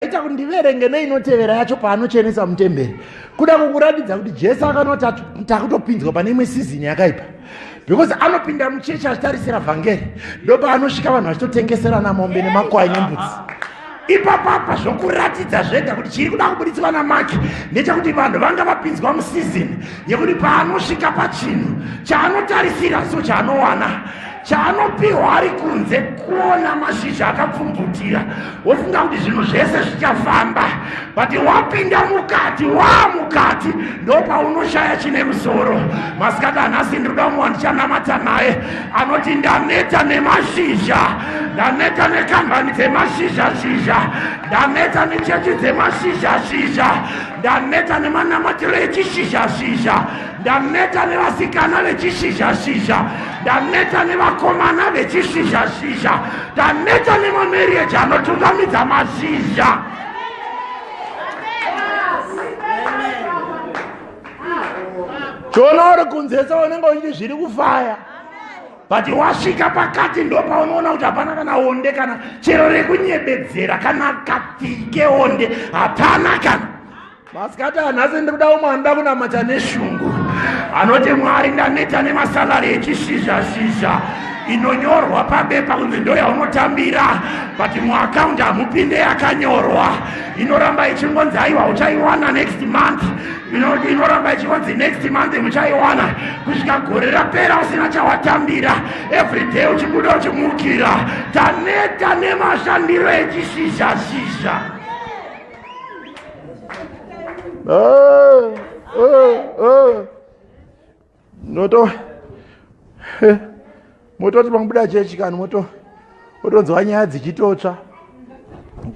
ita kuti ndiverenge neinotevera yacho paanochenesa mutemberi kuda kukuratidza kuti jesu akanoti takutopinzwa pane imwe sizini yakaipa because anopinda muchechi achitarisira vhangeri ndopaanosvika vanhu vachitotengeserana mombe nemakwai nembudzi ipapapa zvokuratidza zvega kuti chiri kuda kubuditswa namaki ndechekuti vanhu vanga vapinzwa musizini yekuti paanosvika pachinhu chaanotarisira so chaanowana chaanopiwa ari kunze kuona mashizha akapfumvutira wofunga kuti zvinhu zvese zvichafamba but wapinda mukati waa mukati ndopaunoshaya chine musoro masikati anhasi ndinoda umwe wandichanamata naye anoti ndaneta nemashizha ndaneta nekambani dzemashizha shizha ndaneta nechechi dzemashizha shizha ndaneta nemanamatiro echishizha shizha Ndaneta nevasikana vechishizhashizha, ndaneta nevakomana vechishizhashizha, ndaneta nemamarriage anotungamidza mazhizha. Choona uri kunzesa unenge uchiti zviri kufaya but wasvika pakati ndopaunoona kuti hapana kana onde kana chero rekunyebedzera kana katike onde hapana kana Masikati anhasi ndiri kuda umwe anoda kunamata neshungu anoti mwari ndaneta nemasalari echishizhashizha inonyorwa pabepa kunzi ndo yaunotambira but muakaunti hamupinde yakanyorwa inoramba ichingonzi aiwa uchaiwana next month inoramba ichingonzi next month muchaiwana kusvika gore rapera usina chawatambira everyday uchibuda uchimukira taneta nemashandiro echishizhashizha Ah, ah, ah. Noto. Eh, mototi pamubuda chechi kani moto otonzwa nyaya dzichitotsva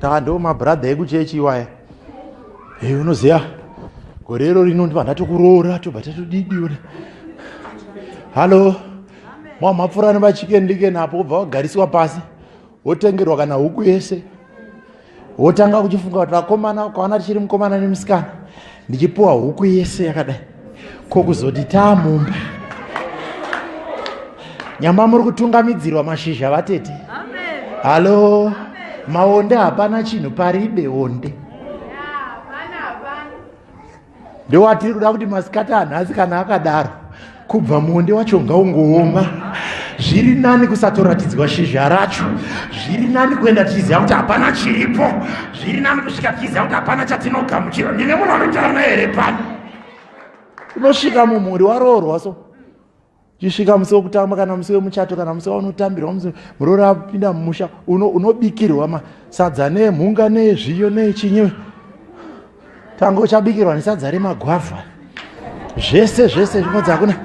kaa ndo mabhuradha ekuchechi iwaya e unoziva gore iro rino ndiva ndatokuroora tobva tatodidiona hallo mwamhapfurani vachikendikeni apo obva vagarisiwa pasi wotengerwa kana huku yese wotanga kuchifunga kuti vakomana ukaona tichiri mukomana nemusikana ndichipiwa huku yese yakadai ko kuzoti taamumba nyamba muri kutungamidzirwa mashizha vatete halo maonde hapana chinhu paribe onde yeah. ndowatiri kuda kuti masikati anhasi kana akadaro kubva muonde wacho ngaungooma zviri nani kusatoratidzwa shizha racho zviri nani kuenda tichiziva kuti hapana chiripo zviri nani kusvika tichiziva kuti hapana chatinogamuchira ndine munhu anotarana here pano unosvika mumhuri waroorwa so chisvika musi wekutamba kana musi wemuchato kana musi waunotambirwa musi muroora apinda mumusha unobikirwa uno masadza nemhunga nezviyo nechinyi tanga uchabikirwa nesadza remagwavha zvese zvese zvinodzi hakuna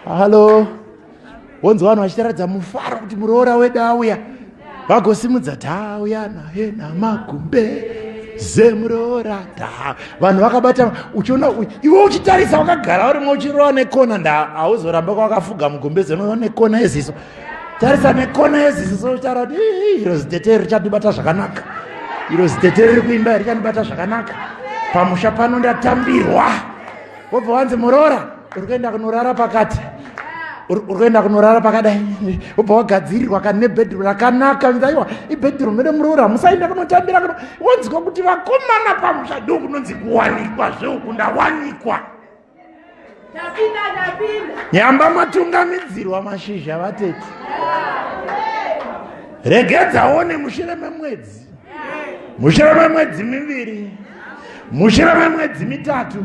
halo wonzwa vanhu vachitaradza mufaro kuti muroora wedu auya vagosimudza tauya naye namagumbe zemuroora ta vanhu vakabata uchiona iwe uchitarisa wakagara urimwe uchirowa nekona nda hauzoramba kwakafuga mugumbe zenoa nekona yeziso tarisa nekona yeziso sotaura kuti iro zitete richandibata zvakanaka iro zitete riri kuimba richandibata zvakanaka pamusha pano ndatambirwa wobva wanzi muroora uri kuenda kunorara pakati uri kuenda kunorara pakadai wobva wagadzirirwa kani nebedroom rakanaka aiwa ibedroom ere muroora musaenda kunotambira kuno wonzwa kuti vakomana pamusha ndo kunonzi kuwanikwa zveuku ndawanikwa nyamba matungamidzirwa mashizha vatete regedzaone mushure memwedzi mushure memwedzi miviri mushure memwedzi mitatu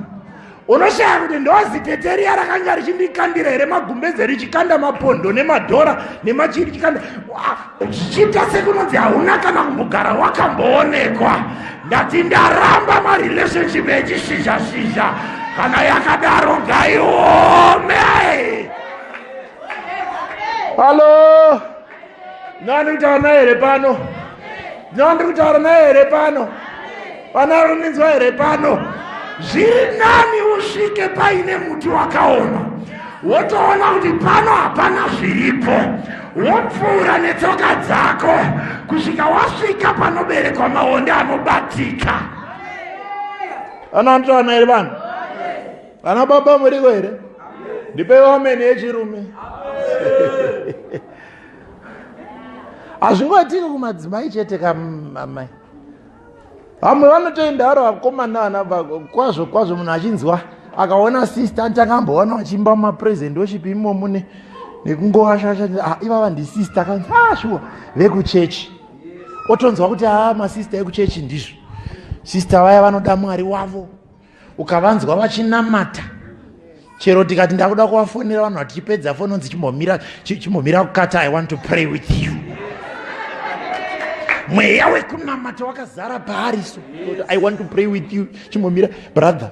unoshaya kuti ndoziketeriya rakanga richindikandira here magumbeze richikanda mapondo nemadhora nemachii richikanda zvichiita sekunonzi hauna kana kumbogara wakamboonekwa ndati ndaramba marelationship echishisha shisha kana yakadaro ngaiome halo ndinoandiri kutaura naye here pano ndinoandiri kutaura naye here pano vana varuninzwa here pano zviri nani usvike paine muti wakaoma wotoona kuti pano hapana zviripo wopfuura netsoka dzako kusvika wasvika panoberekwa maonde anobatika ana anotaura naye vanhu Vana baba muriko here? Ndipeiwo ameni yechirume. Hazvingoitiki kumadzimai chete kamamai. Vamwe vanotoenda vari vakomana vana kwazvo kwazvo munhu achinzwa akaona sister anti akamboona vachiimba mapresent worship imomo ne nekungoashasha ah, ivava ndisister akanzi ah shuwa vekuchechi otonzwa kuti a ah, masister ekuchechi ndizvo sister vaya vanoda mwari wavo ukavanzwa vachinamata chero tikati ndakuda kuvafonera vanhu vatichipedza foni onzi chimbomira chimbomira kukata i want to pray with you mweya wekunamata wakazara paariso i want to pray with you chimbomira brother